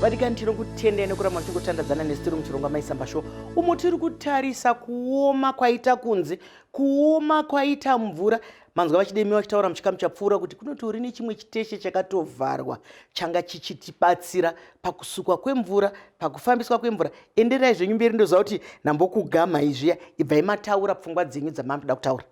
vadikani tiri kutendai nekuramba tichingotandadzana nesu tiri muchirongwa maisamba sho umo tiri kutarisa kuoma kwaita kunze kuoma kwaita mvura manzwa vachidemiwa vachitaura muchikamu chapfuura kuti kunoti uri nechimwe chiteshe chakatovharwa changa chichitibatsira pakusukwa kwemvura pakufambiswa kwemvura enderai zvenyu mberi ndoziva kuti nambokugamha izviya ibvai mataura pfungwa dzenyu dzamanoda kutaura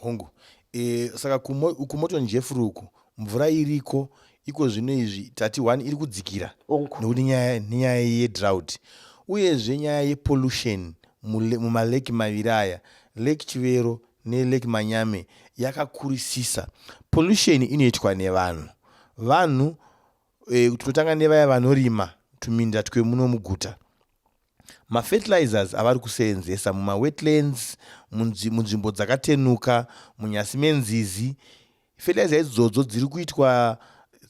Hongu. E, saka kumo, kumotonjefuru uku mvura iriko iko zvino izvi tati one iri kudzikira nekuti nyaya nenyaya yedrought uyezve nyaya yepollution mumaleki maviri aya lake chivero nelake manyame yakakurisisa pollution inoitwa nevanhu vanhu e, tinotanga nevaya vanorima tuminda twemuno muguta mafertilizers avari kuseenzesa mumawetlands munzvimbo dzakatenuka munyasi menzizi fertilizer idzodzo dziri kuitwa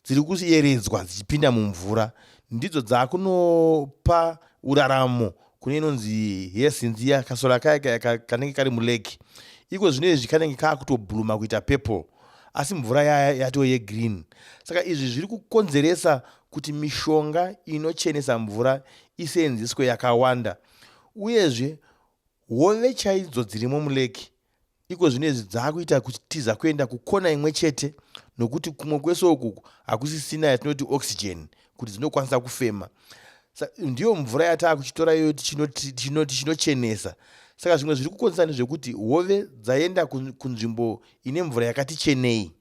dziri kuyeredzwa dzichipinda mumvura ndidzo dzaakunopa uraramo kune inonzi hesinzi ya kasora kaya kaya ka- kanenge kari mulake iko zvino izvi kanenge kaakutobhuruma kuita purple asi mvura yaya yatoo yegreen saka izvi zviri kukonzeresa kuti mishonga inochenesa mvura iseenzeswe yakawanda uyezve hove chaidzo dzirimo mulake Iko zvino izvi dzaakuita kutiza kuenda kukona imwe chete nokuti kumwe kwese uku hakusisina yatinoti oxygen kuti dzinokwanisa kufema ndiyo mvura yataa kuchitora iyoyo tichinochenesa saka zvimwe zviri kukonzesa ndezvekuti hove dzaenda kunzvimbo ine mvura yakati chenei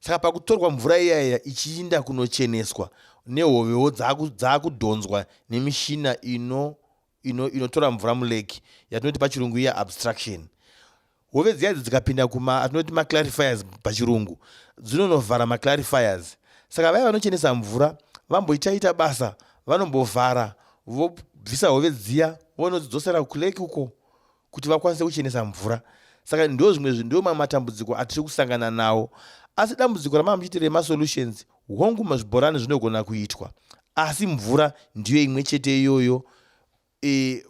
saka pakutorwa mvura iyaiya ichiinda kunocheneswa nehovewo dzaakudhonzwa nemishina ino inotora ino mvura muleki yatinoti pachirungu iya abstraction hove dziya idzi dzikapinda kuma atinoti maclarifiers pachirungu dzinonovhara maclarifiers saka vaya vanochenesa mvura vamboitaita basa vanombovhara vobvisa hove dziya vonodzidzosera kuleki uko kuti vakwanise kuchenesa mvura saka ndo zvimwe zvinhu ndo mamwe matambudziko atiri kusangana nawo asi dambudziko ramama muchiti remasolutions hongu mazvibhorani zvinogona kuitwa asi mvura ndiyo imwe chete iyoyo e,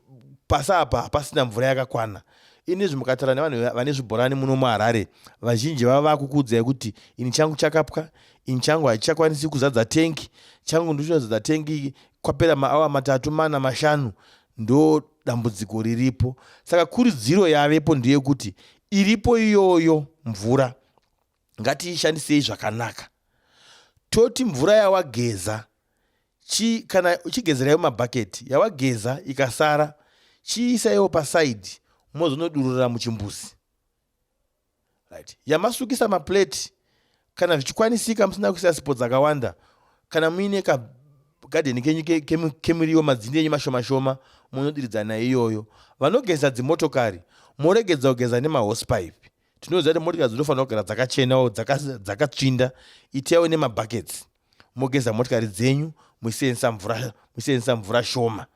pasi apa hapasina mvura yakakwana inizvi mukataura nevanhu vane zvibhorani muno muharare vazhinji vava vakukuudzai kuti ini changu chakapwa ini changu hachichakwanisi kuzadza tengi changu ndichazadza tengi kwapera maawa matatu mana mashanu Ndo dambudziko riripo. Saka kurudziro yavepo ndeyekuti iripo iyoyo mvura ngatiishandisei zvakanaka. Toti mvura yawageza chi kana uchigezerayo mabhaketi yawageza ikasara chiisaiwo pasaidhi mozonodururira muchimbuzi. right yamasukisa maplate kana zvichikwanisika musina kuisa sipo dzakawanda kana muine kagadheni kenyu kemuriwo madzindi enyu mashomashoma munodiridza nayo iyoyo vanogeza dzimotokari moregedza kugeza nemahosipipe tinoziva kuti motokari dzinofanira kugara dzakachenawo dzakatsvinda itaiwo nemabuckets mogeza motikari dzenyu muchiseenzesa mvura muchiseenzesa mvura shoma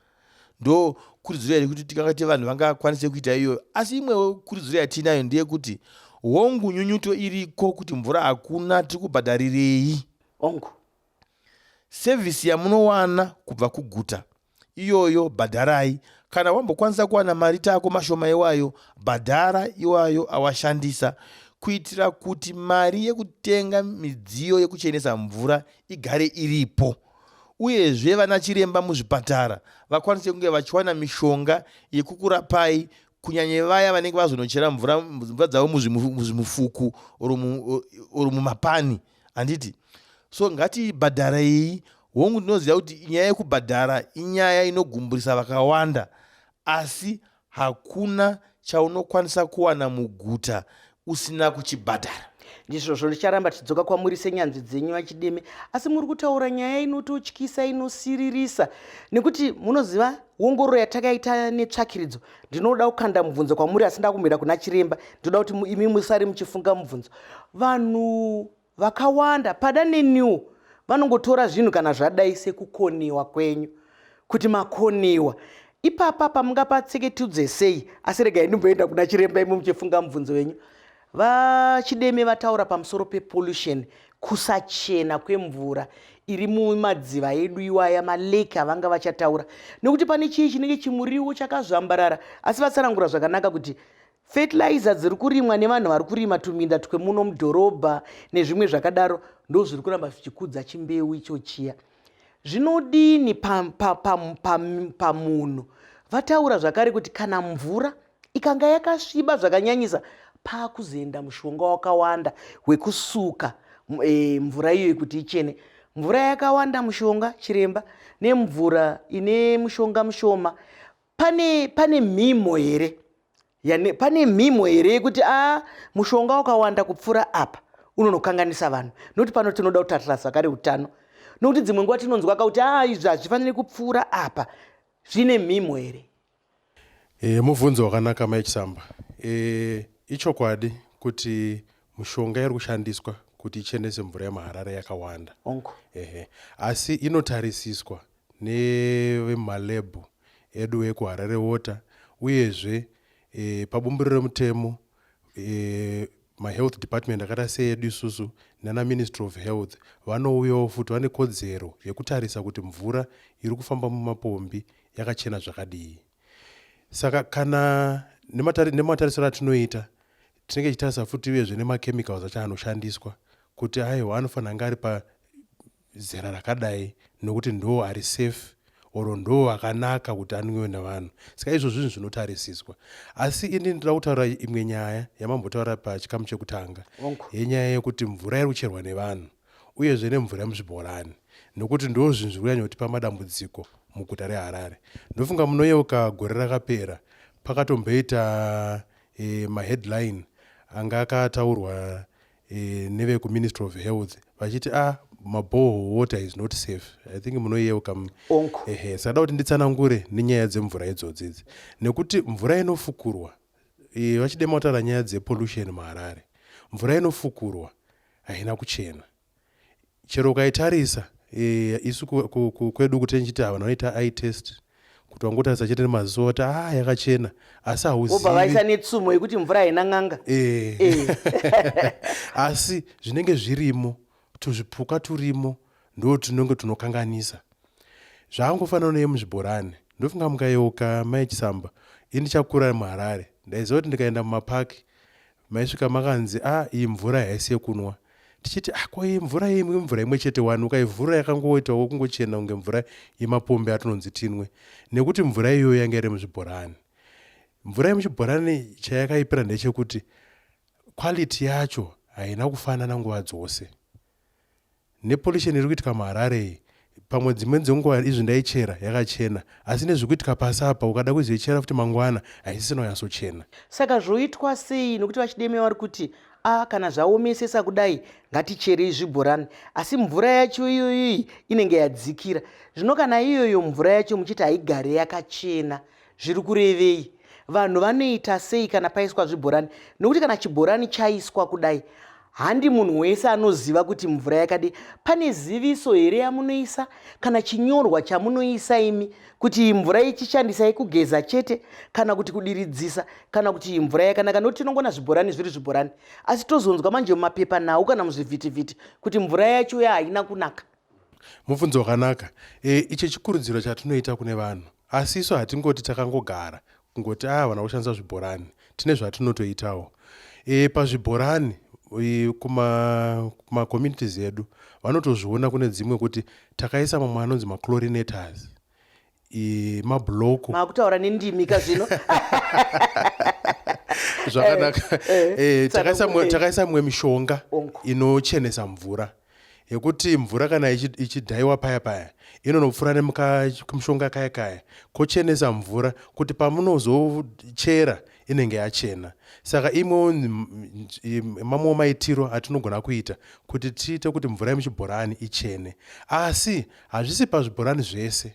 ndo kurudziro yari kuti tikanga ti vanhu vangakwanise kuita iyoyo asi imwewo kurudziro yatiinayo ndeyekuti hongu nyunyuto iriko kuti mvura hakuna tiri kubhadharirei hongu sevhisi yamunowana kubva kuguta iyoyo bhadharai kana wambokwanisa kuwana mari tako mashoma iwayo bhadhara iwayo awashandisa kuitira kuti mari yekutenga midziyo yekuchenesa mvura igare iripo uyezve vana chiremba muzvipatara vakwanise kunge vachiwana mishonga yekukurapai kunyanya vaya vanenge vazonochera mvura mvura dzavo muzvimufuku or mumapani mu, handiti so ngatibhadharei hongu ndinoziva kuti nyaya yekubhadhara inyaya inogumburisa vakawanda asi hakuna chaunokwanisa kuwana muguta usina kuchibhadhara ndizvozvo ndicharamba tichidzoka kwamuri senyanzvi dzenyu vachideme asi muri kutaura nyaya inototyisa inosiririsa nekuti munoziva wongororo yatakaita netsvakiridzo ndinoda kukanda mubvunzo kwamuri asi ndakumira kuna chiremba ndinoda kuti imi musare muchifunga mubvunzo vanhu vakawanda pada neniwo vanongotora zvinhu kana zvadai sekukoniwa kwenyu kuti makoniwa ipapa pamungapatseke tiudze sei asi regai ndimboenda kuna chiremba imi muchifunga mubvunzo wenyu VaChideme vataura pamusoro pepollution, kusachena kwemvura iri mumadziva edu iwaya malake avanga vachataura nekuti pane chii chinenge chimuriwo chakazvambarara asi vatsanangura zvakanaka kuti fertilizer dziri kurimwa nevanhu vari kurima tuminda twemuno mudhorobha nezvimwe zvakadaro ndo zviri kuramba zvichikudza chimbeu icho chiya zvinodini pamunhu vataura zvakare kuti kana mvura ikanga yakasviba zvakanyanyisa paakuzoenda mushonga wakawanda wekusuka e, mvura iyoyo kuti ichene mvura yakawanda mushonga chiremba nemvura ine mushonga mushoma pane pane mhimo here yani pane mhimo here yekuti a ah, mushonga wakawanda kupfuura apa unonokanganisa vanhu nokuti pano tinoda kuti atirasa kare utano nokuti dzimwe nguva tinonzwa ka kuti a ah, izvi hazvifaniri kupfuura apa zvine mhimo here E, mubvunzo wakanaka mai Chisamba. E, ichokwadi kuti mushonga iri kushandiswa kuti ichenese mvura yemaharare yakawanda Onko. Ehe. asi inotarisiswa nevemalebhu edu ekuharare water uyezve e, pabumburiro remutemo e, mahealth department akaita seedu isusu nana ministry of health vanouyawo futi vane kodzero yekutarisa kuti mvura iri kufamba mumapombi yakachena zvakadii saka kana nematarisiro atinoita tinenge tichitarisa futi vezve nemachemicals acho anoshandiswa kuti aiwa anofanira anga ari zera rakadai nokuti ndoo ari safe or ndoo akanaka kuti anwiwe navanhu saka izvo zvinhu zvinotarisiswa asi ini ndinoda kutaura imwe nyaya yamambotaura pachikamu chekutanga yenyaya yekuti mvura iri kucherwa nevanhu uyezve nemvura yemuzvibhorani nokuti ndoo zvinhu zviri kunyanya kutipa madambudziko muguta reharare ndofunga munoyeuka gore rakapera pakatomboita e, maheadline anga akataurwa e, nevekuministry of health vachiti a ah, maboho water is not safe i think munoyeuka ehe sakada kuti nditsanangure nenyaya dzemvura idzodzi idzi nekuti mvura inofukurwa e, vachide mautaura nyaya dzepollution muharare mvura inofukurwa haina kuchena Chero ukaitarisa eh, isu ku- ku- ku- kwedu kuti ndichiti ah, vanhu vanoita eye test kuti wangotarisa chete nemaziso kuti ah yakachena asi vobva vaisa hauzivi netsumo yekuti mvura haina n'anga Eh. Eh. asi zvinenge zvirimo tuzvipuka turimo ndo tunenge tunokanganisa zvaangofanana neye muzvibhorani ndofunga mukayeuka mai chisamba ini chakura muharare ndaiziva kuti ndikaenda mumapaki Maisvika makanzi ah iyi mvura haisi yekunwa tichiti ah ko iyi mvura iyi mvura imwe chete wani ukaivhura yakangoitawo kungochena kunge mvura yemapombi atinonzi tinwe nekuti mvura iyoyo yanga iri muzvibhorani mvura yemuchibhorani chayakaipira ndechekuti quality yacho haina kufanana nguva dzose Nepollution iri kuitika muHarare iyi pamwe dzimweni dzenguva izvi ndaichera yakachena asi nezviri kuitika pasi apa ukada kuzoichera futi mangwana haisisina kunyatsochena. Saka zvoitwa sei nokuti VaChideme vari kuti a kana zvaomesesa kudai ngaticherei zvibhorani asi mvura yacho iyoyo iyi inenge yadzikira zvino kana iyoyo mvura yacho muchiti haigare yakachena zviri kurevei vanhu vanoita sei kana paiswa zvibhorani nokuti kana chibhorani chaiswa kudai handi munhu wese anoziva kuti mvura yakadi pane ziviso here yamunoisa kana chinyorwa chamunoisa imi kuti iyi mvura ichishandisai kugeza chete kana kuti kudiridzisa kana kuti iyi mvura yakanaka nokuti tinongona zvibhorani zviri zvibhorani asi tozonzwa manje mumapepa nhau kana muzvivhitivhiti kuti mvura yacho ya haina kunaka Mubvunzo wakanaka. E, icho chikurudziro chatinoita kune vanhu. Asi isu hatingoti takangogara kungoti a ah, havana kushandisa zvibhorani. Tine zvatinotoitawo. E, pazvibhorani e, kumacommunities kuma edu vanotozviona kune dzimwe kuti takaisa mamwe anonzi maclorinators mabhuloku maakutaura nendimi ka zvino zvakanaka eh, eh, eh, takaisa mumwe mishonga inochenesa mvura yekuti mvura kana ichidhaiwa paya paya inonopfuura nemukamishonga kaya kaya kochenesa mvura kuti pamunozochera inenge yachena saka imwewo mamwewo maitiro atinogona kuita kuti tiite kuti mvura yemuchibhorani ichene asi hazvisi pazvibhorani zvese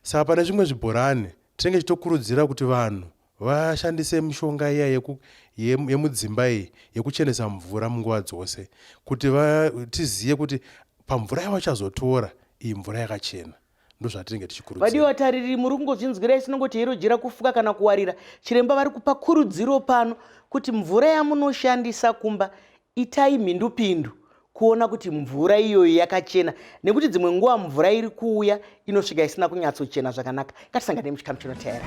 saka pane zvimwe zvibhorani tinenge tichitokurudzira kuti vanhu vashandise mishonga iya yemudzimba iyi yekuchenesa mvura munguva dzose kuti tizive kuti pamvura yavachazotora iyi mvura yakachena ndozvatinenge tichikurudzira vadiwa vatariri muri kungozvinzwira isinongoti hero jira kufuka kana kuwarira chiremba vari kupa kurudziro pano kuti mvura yamunoshandisa kumba itai mhindupindu kuona kuti mvura iyoyo yakachena nekuti dzimwe nguva mvura iri kuuya inosvika isina kunyatsochena zvakanaka ngatisangane muchikamu chinoteera